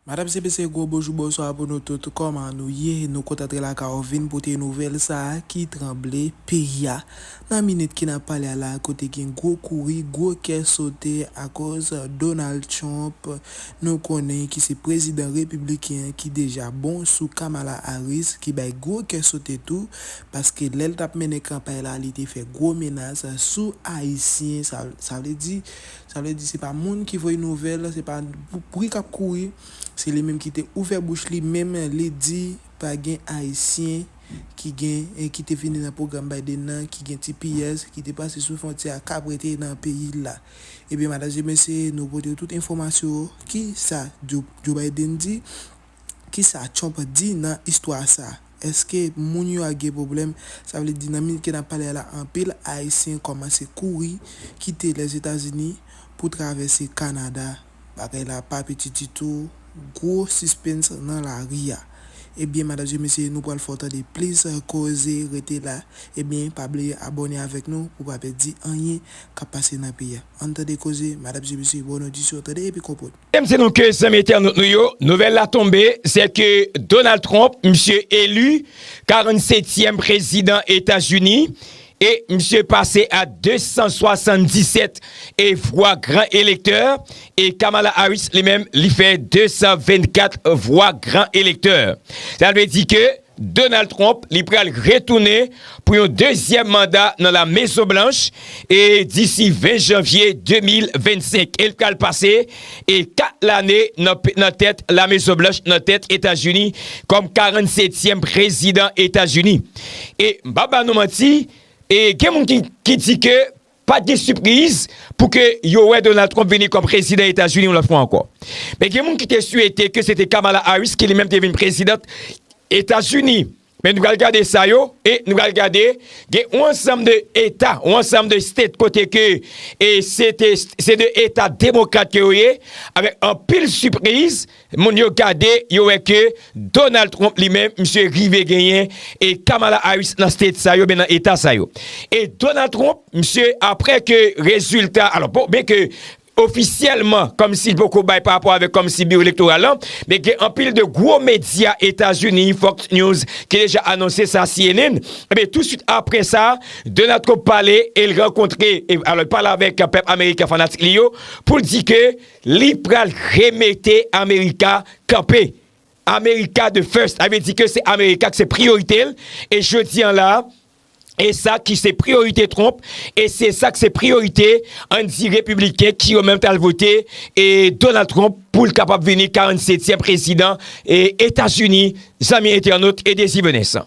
Madame CPC gwo bonjou bonswa pou nou tout kòman nou ye nou kontan antre lakay ou vin pote nouvèl sa ki tranble peyi a nan minit ki nap pale a la kote gen gwo kouri gwo kè sote akoz Donald Trump nou konnen ki se prezidan repibliken an ki deja bon sou Kamala Harris ki bay gwo kè sote tou paske lèl tap mennen kanpay la li te fè gwo menas sou ayisyen sa vle di Sa vle di se pa moun ki voye nouvèl, se pa bri kap kouri, se li menm ki te ouvè bouch li menm li di pa gen ayisyen ki gen ki te vini nan pwogram Biden nan ki gen tps ki te pase sou fwontyè a kap rete nan peyi l la. Ebyen madanm e mesye nou pote w tout enfòmasyo ki sa Joe Biden di. Kisa Trump di nan istwa sa? Eske moun yo a gen pwoblèm? Sa vle di nan minit ke nap pale a la anpil ayisyen kòmanse kouri kite Lèzetazini pou travèse Kanada. Bagay la pa piti ditou, gwo sispens nan lari a. Ebyen madam e mesye nou pral fè w tande plis koze rete la ebyen pa bliye abòne avèk nou pou pa pèdi anyen kap pase nan peyi a. Ann tande koze madam e mesye bòn odisyon tande epi konpòt. Mesdames et messieurs, zanmi entènot nou yo, nouvèl la tonbe, sè ke Donald Trump, misye eli 47 tièm prezidan Etazini, e misye pase a 277 e vwa gran elektè, e Kamala Harris li menm li fè 224 vwa gran elektè. Sa vle di ke Donald Trump li pral retounen pou yon dezyèm manda nan La Mezon Blanch e disi 20 janvye 2025 e l pral pase e 4 lane nan tèt La Mezon Blanch nan tèt Etazini kòm 47 tyèm prezidan Etazini e m pap ba nou manti e gen moun ki di ke Pa gen sipriz pou ke yo wè Donald Trump vini kòm prezidan Etazini yon lòt fwa ankò. Men gen moun ki te swete ke se te Kamala Harris ki li menm te vin prezidant Etazini. Men nou pral gade sa yo e nou pral gade gen yon ansanm de eta, yon ansanm de state kote ke se de eta demokrat ke yo ye avèk anpil sipriz. Moun yo gade, yo wè ke Donald Trump li menm, misye rive genyen e Kamala Harris nan state sa yo, nan eta sa yo. E Donald Trump, misye apre ke rezilta, alò bon, byen ke ofisyèlman, kòm si li poko bay pa rapò avèk kòm si biwo elektoral lan, men gen anpil de gwo medya Etazini, Fox News, ki deja anonse sa, cnn, ebyen tou swit apre sa, Donald Trump pale, e l rankontre, alò l pale avèk pèp ameriken, fanatik li yo, pou l di ke. Li pral remete America kanpe. America the first sa vle di ke se America ki se priyorite l e jodi an la e sa ki se priyorite Trump e se sa ki se priyorite ann di repibliken ki yo menm ki al vote e Donald Trump pou l kapab vini 47 tyèm prezidan e Etazini zanmi entènot e Dezi Venesan.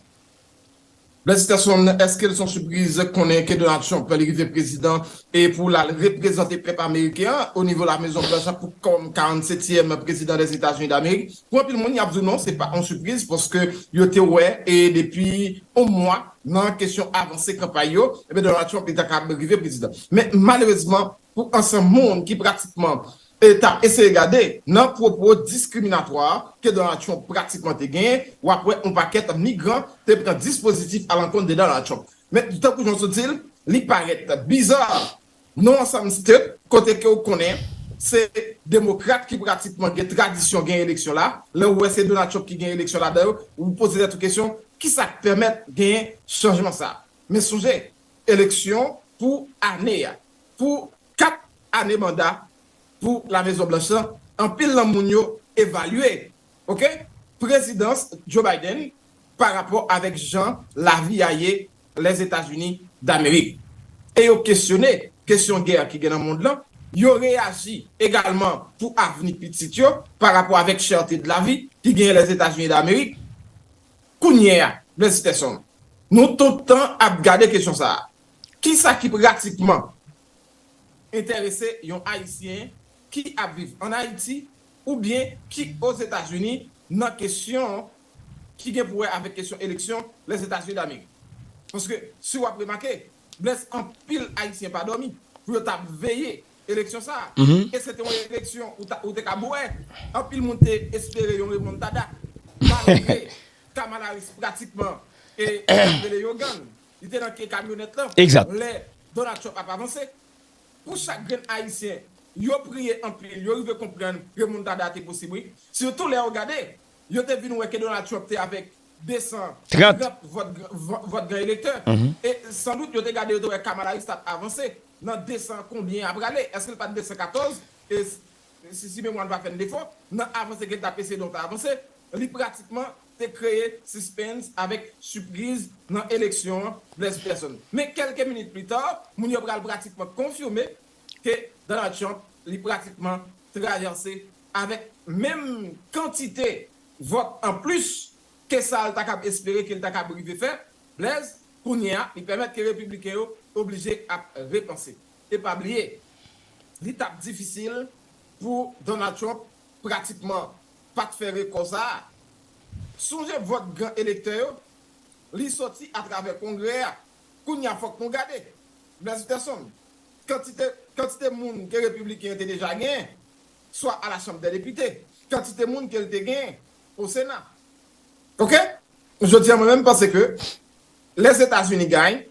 Felisitasyon eskel son sipriz konnen ke Donald Trump pral rive prezidan e pou lal reprezante pèp ameriken an o nivo la mezon blanch an pou kòm 47 tièm prezidan dè Etazini damerik pou anpil moun yap diw non se pa on sipriz paske yo te wè e depi on mwa nan kesyon avanse kanpay yo ebyen Donald Trump li ta kab rive prezidan men malerezman pou ansanm moun ki pratikman e t ap eseye gade nan pwopo diskriminatwa ke Donald Trump pratikman te genyen, w ap wè yon pakèt migran te pran dispozitif alankont de Donald Trump. Men, tankou jan w sot di l, li parèt biza non ansanm state kote ke w konnen se demokrat ki pratikman gen tradisyon gen eleksyon la, lè w wè se Donald Trump ki gen eleksyon ladan yo, ou poze tèt ou kesyon, ki sa k pèmèt genyen chanjman sa a? Men sonje, eleksyon pou ane a, pou. 4 ane manda pou la mezon blanch lan anpil nan moun yo evalye ok prezidans Joe Biden pa rapò avèk jan lavi a ye Lèzetazini Damerik e yo kesyone kesyon gè ki gen nan mond lan yo reyaji egalman pou avni pitit yo pa rapò avèk chète dlavi ki genyen Lèzetazini Damerik kounye a Blèzitèson nou tout tan ap gade kesyon sa a Ki sa ki pratikman enterese yon Ayisyen ki ap viv ann Ayiti oubyen ki Ozetazini nan kesyon ki gen pou wè avèk kesyon eleksyon Lèzetazini Damerik? Paske si w ap remake, Blaise, anpil Ayisyen pa dòmi pou yo ta ap veye eleksyon sa a. E se te yon eleksyon ou te kab wè anpil moun te espere yon remontada malgre Kamala Harris pratikman e sa yo rele yon gang Li te nan ke kamyonèt lan Exact. lè Donald Trump ap avanse. Pou chak grenn Ayisyen, yo priye anpil, yo rive konprann remontada a te posib wi. Sitou lè yo gade, yo te vin wè ke Donald Trump te avèk 230 Trant. vòt vòt gran elektè. E san dout yo te gade, yo te wè Kamala Harris t ap avanse nan 200 konbyen a prale, èske l pa t 214 e si memwa n pa fè n defo, nan avanse ke l t ap eseye donk ta avanse, li pratikman te kreye sispens avèk sipriz nan eleksyon an, Blaise Persson. Men kèlke minit pli ta, moun yo pral pratikman konfime ke Donald Trump li pratikman trayanse avèk menm kantite vòt an plis ke sa l ta kab espere ke l ta kab rive fè, Blaise, kounye a li pèmèt ke repibliken yo oblije ap repanse. E pa bliye, li t ap difisil pou Donald Trump pratikman pa t fè rekò sa a. Sonje vòt gran elektè yo, li soti atravè Kongrè a. Kounye a fòk nou gade, Blaise Peterson, kantite kantite moun ke Repibliken yo te deja genyen, swa a la Chanm dè Depite, kantite moun ke l te genyen o Sena. Ok? Jodi a mwen menm panse ke Lèzetazini gany,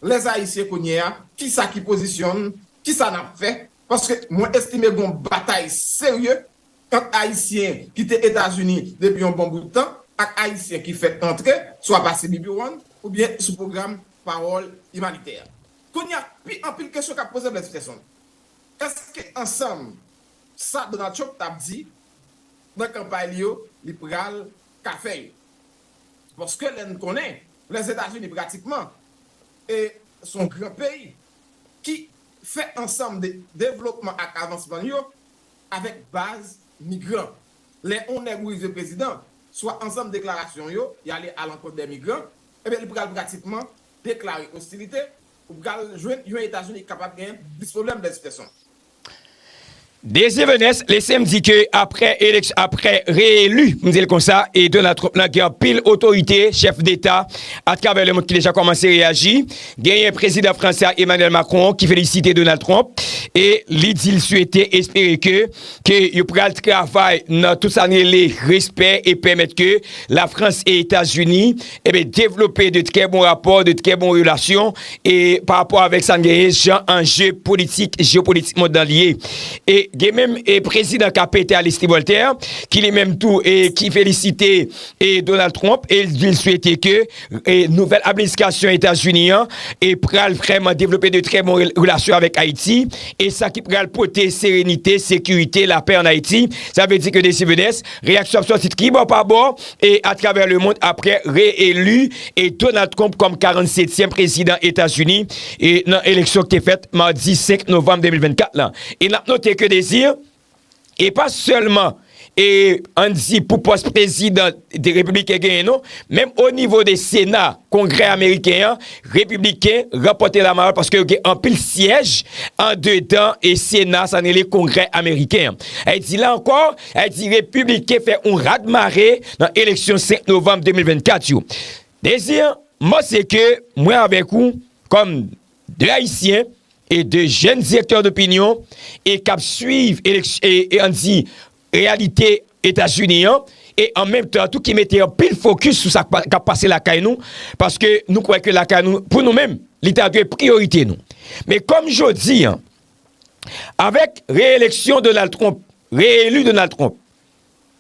lè Ayisyen kounye a, ki sa ki pozisyon n, ki sa n ap fè, paske mwen estime gen yon batay serye ant Ayisyen ki te Etazini depi yon bon bout tan ak Ayisyen ki fèk antre, swa pa CBP One oubyen sou pwogram Pawòl Imanitè. Kounye a, pi anpil kesyon k ap poze Blaise Peterson. Èske ansanm sa Donald Trump t ap di nan kanpay li yo li pral ka fè yo? Paske lè n konnen Lèzetazini pratikman s on gran peyi ki fè ansanm de devlopman ak avansman l yo, avèk baz migran. Lè on nèg ou rive prezidan, swa ansanm deklarasyon yo, y'ale alankont dè migran, ebyen li pral pratikman deklare ostilite, ou pral jwenn yon Etazini ki kapab genyen plis pwoblèm de tout fason. Désir Venès, lese m di ke apre eleksyon, apre re-elu, m di l konsa, e Donald Trump la gen anpil otorite, chèf deta atravè lemond ki deja kòmanse reyaji, Genyen Prezidan Franse a Emmanuel Macron ki felisite Donald Trump e li di l swete, espere ke, ke yo pral travay nan tout sa n rele respè e pèmèt ke Lafrans e Etazini eben devlope de trè bon rapò, de trè bon relasyon e pa rapò avèk sa n genyen jan anje politik, jeopolitik mond lan li ye. E gen menm e Prezidan ka pete a lespri Voltaire ki li menm tou e ki felisite e Donald Trump e li di l swete ke Nouvèl administrasyon Etazini an pral vrèman devlope de trè bon relasyon avèk Ayiti e sa ki pral pote serenite, sekirite, lapè an Ayiti. Sa vle di ke Desi Vedes, reyaksyon ap sòti tribò pa bò e atravè lemond apre re-eli Donald Trump kòm 47 tièm prezidan Etazini nan eleksyon ki te fèt madi 5 novanm 2024 lan. E nap note ke Desi. e pa sèlman e an di pou pòs prezidan de repibliken genyen non, menm o nivo de sena, kongrè ameriken an, repibliken ranpòte la mayòl paske yo gen anpil syèj an dedan e sena sa nele kongrè ameriken an. Ayè di la ankò, ayè di repibliken fè yon rad mare nan eleksyon 5 novanm 2024 yo. Dezi an, mò se ke mwen avèk ou kòm 2 ayisyen e 2 jèn direktè dopinyon e k ap swiv e ann di reyalite Etazini an e an menm tan tou ki mete anpil fokis sou sa k ap pase lakay nou paske nou kwè ke lakay nou pou nou menm li ta dwe priyorite nou men kòm jodi an avèk reyeleksyon Donald Trump reyelu Donald Trump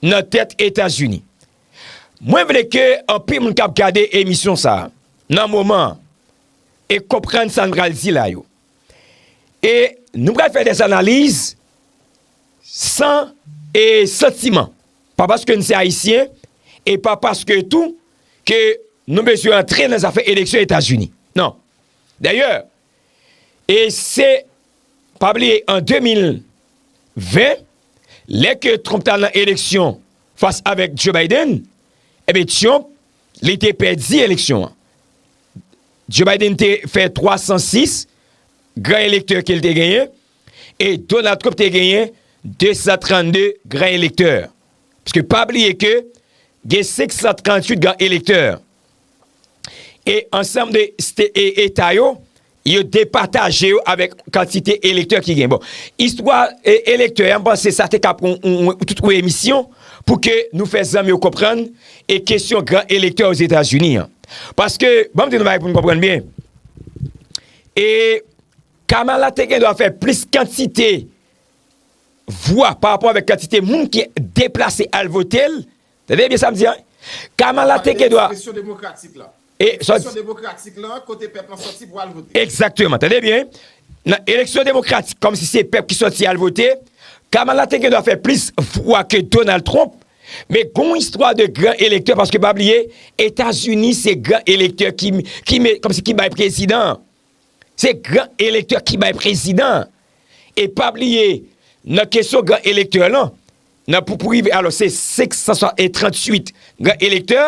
nan tèt Etazini mwen vle ke anpil moun k ap gade emisyon sa nan moman an e konprann sa n pral di la yo. E nou pral fè dèz analiz san e santiman. Pa paske n se Ayisyen, e pa paske tou ke nou bezwen antre nan zafè eleksyon Etazini. Non. Dèyè, e se pa bliye an 2020, lè ke Trump ta nan eleksyon fas avèk Joe Biden, e be Trump, Li te pèdi eleksyon an. Joe Biden te fè 306 gran elektè ke li te genyen e Donald Trump te genyen 232 gran elektè. Pske pa bliye ke gen 538 gran elektè. E ansanm de eta yo, Yo depataje yo avèk kantite elektè ki gen. Bon, istwa elektè an, m panse sa te ka pran tout yon emisyon pou ke nou fè zanmi yo konprann e kesyon gran elektè Ozetazini an. Paske, banm di nou yon bagay pou nou konprann byen, e Kamala te gen dwa fè plis kantite vwa pa rapò avèk kantite moun ki deplase al vote l, Tande byen sa m di an. Kamala te gen dwa. Presyon demokratik la. Presyon demokratik la kote pèp lan soti pou al vote. Ekzakteman. Tande byen. Nan eleksyon demokratik kòm si se pèp ki soti al vote. Kamala te gen dwa fè plis vwa ke Donald Trump. Men gon istwa de gran elektè paske pa bliye Etazini se gran elektè ki kòm si ki bay prezidan. Se gran elektè ki bay prezidan an. E pa bliye, nan kesyon gran elektè lan, nan pou pou rive, alò se 538 gran elektè,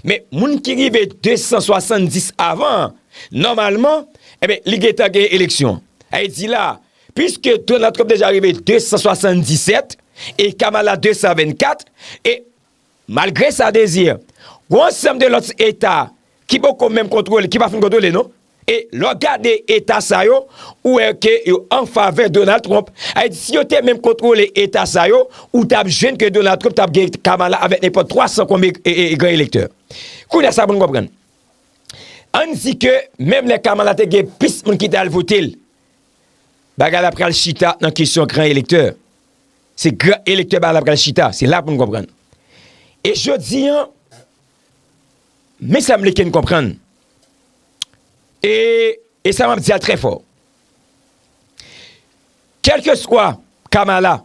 men moun ki rive 270 avan an, nòmalman, enben, li gen tan gen eleksyon. A e di la, piske Donald Trump deja rive 277, e Kamala 224, e Malgre sa Désir, gwo ansanm de lòt eta ki poko menm kontwole, ki pa fin kontwole non. E lè w gade eta sa yo, ou wè ke yo anfavè Donald Trump. A di si yo te menm kontwole eta sa yo, ou t ap jwenn ke Donald Trump t ap gen Kamala avèk nenpòt 300 konbe gran elektè. Kounye a sa pou n konprann. Ann di ke menm lè Kamala te gen plis moun ki t al vote l, bagay la pral chita nan kesyon gran elektè. Se gran elektè bagay la pral chita, se la pou n konprann. E jodi an, men sa m vle ke n konprann, e, e sa m ap di a trè fò, kèlkeswa Kamala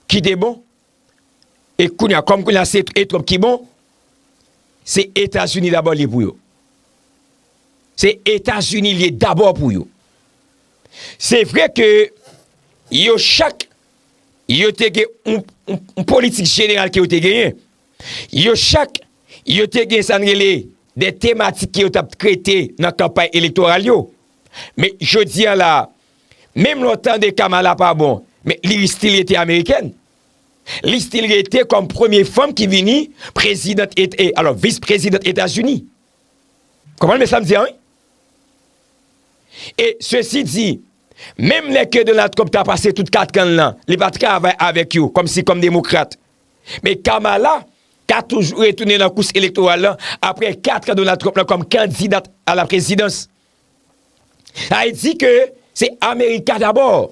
ki te bon, e kounye a, kòm kounye a se e Trump ki bon, se Etazini dabò li ye pou yo. Se Etazini li ye dabò pou yo. Se vre ke yo chak yo te gen yon politik jeneral ke yo te genyen. Yo chak yo te gen sa n rele de tematik ke yo t ap trete nan kanpay elektoral yo. Men jodi an la, menm lè w tande Kamala pa bon, men li estil rete amerikèn. Li estil rete kòm premye fanm ki vini prezidant, alò vis prezidant Etazini. Konprann men sa m di a wi. E sesi di, menm lè ke Donald Trump ta pase tout 4 kan l lan, li pa travay avèk yo kòm si kòm demokrat. Men Kamala ka toujou retounen nan kous elektoral lan apre 4 kan Donald Trump lan kòm kandidat a la prezidans. Sa vle di ke se Amerika dabò.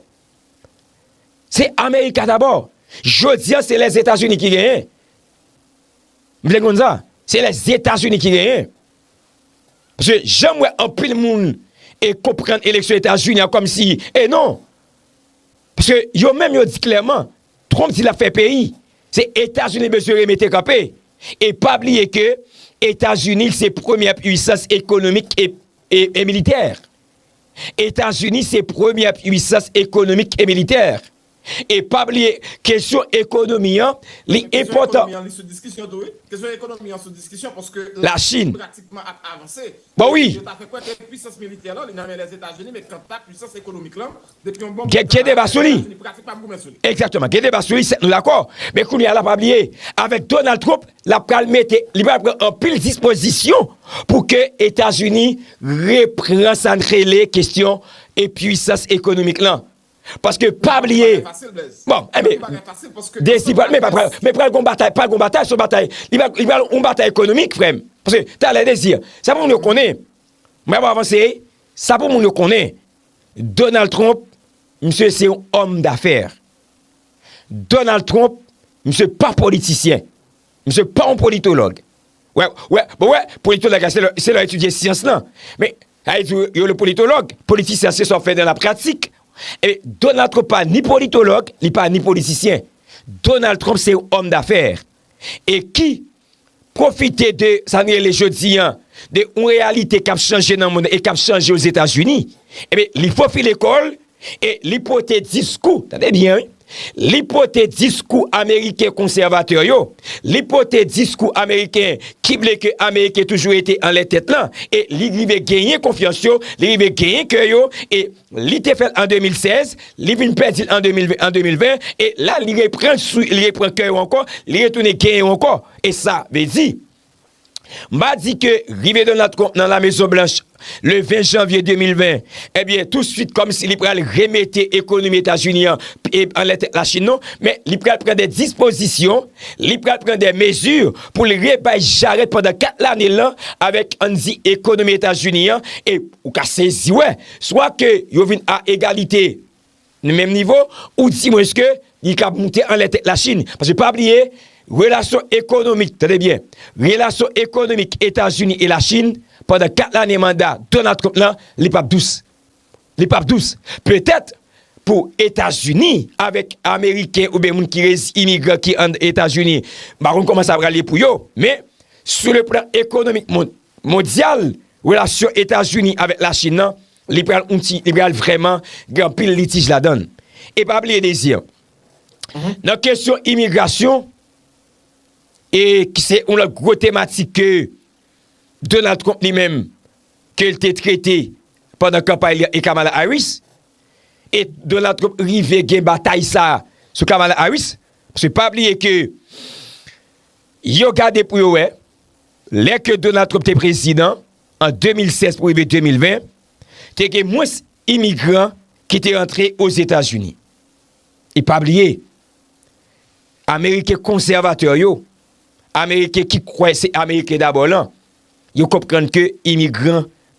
Se Amerika dabò. Jodi a se Lèzetazini ki genyen. M vle konn sa. Se lè Etazini ki genyen. Paske jan m wè anpil moun e konprann eleksyon Etazini an kòm si e non. Paske yo menm yo di klèman, Trump di l ap fè peyi. Se Etazini li bezwen remete kanpe. E pa bliye ke Etazini se premyè puisans ekonomik e militè. Etazini se premyè puisans ekonomik e militè. E pa bliye kesyon ekonomi an li enpòtan. La Chine. Bon wi. Gen deba sou li. Ekzatman gen deba sou li sèt nou dakò. Men kounye a la pa bliye avèk Donald Trump la pral mete li pral pran anpil dispozisyon pou ke Etazini repran sa n rele kesyon e pwisans ekonomik lan. paske pa bliye bon enben desi pral men papal men pral gon batay pral gon batay son batay li pral on batay ekonomik frèm paske talè desi sa pou moun yo konnen mwen ap avanse sa pou moun yo konnen Donald Trump misye se yon òm dafèr Donald Trump misye pa politisyen misye pa yon politològ wè wè wè wè politològ la se lè etidye syans lan men Sa vle di yo le politològ. Politisyen se sa w fè nan la pratik. E Donald Trump pa ni politològ, li pa ni politisyen. Donald Trump se yon òm dafè. E ki pwofite de sa nou rele jodi an, de yon reyalite k ap chanje nan monn e k ap chanje Ozetazini. Ebyen li fofile kò l E li pote diskou, tande byen wi, li pote diskou Ameriken konsèvatè yo, li pote diskou Ameriken ki vle ke Ameriken toujou rete anlè tèt lan, e li rive genyen konfyans yo, li rive genyen kè yo, e li te fèl an 2016, li vin pèdi l an 2020, e la li repran kè yo ankò, li retounen genyen yo ankò, e sa vle di. M pa di ke rive Donald Trump nan La Mezon Blanch le 20 janvye 2020, ebyen tou swit kòm si li pral remete ekonomi Etazini an anlè tèt la Chin non, men li pral pran de dispozisyon, li pral pran de mezi pou li rebay jarèt pandan 4 lane l lan avèk ann di ekonomi Etazini an e ou ka sezi wè, swa ke yo vin a egalite. nan menm nivo ou di mwens ke li kab moute anlè tèt la Chine. Paske pa bliye, relasyon ekonomik, tande byen, relasyon ekonomik Etazini e la Chine pandan 4 lane manda Donald Trump lan, li pap dous. Li pap dous. Petèt pou Etazini avèk Ameriken oubyen moun ki rezi, imigran ki an Etazini, m pa konn kòman sa pral ye pou yo, men sou le plan ekonomik mondyal, relasyon Etazini avèk la Chine lan, Li pral yon ti, li pral vrèman gen anpil litij ladann. E pa bliye Désir, nan kesyon imigrasyon, e ki se yon lòt gwo tematik ke Donald Trump li menm, ke l te trete pandan kanpay li an e Kamala Harris, e Donald Trump rive gen batay sa a sou Kamala Harris, paske pa bliye ke yo gade pou yo wè, lè ke Donald Trump te prezidan, An 2016 pou rive 2020, te gen mwens imigran ki te antre Ozetazini. E pa bliye, Ameriken konsèvatè yo, Ameriken ki kwè se Ameriken dabò lan, yo konprann ke imigran,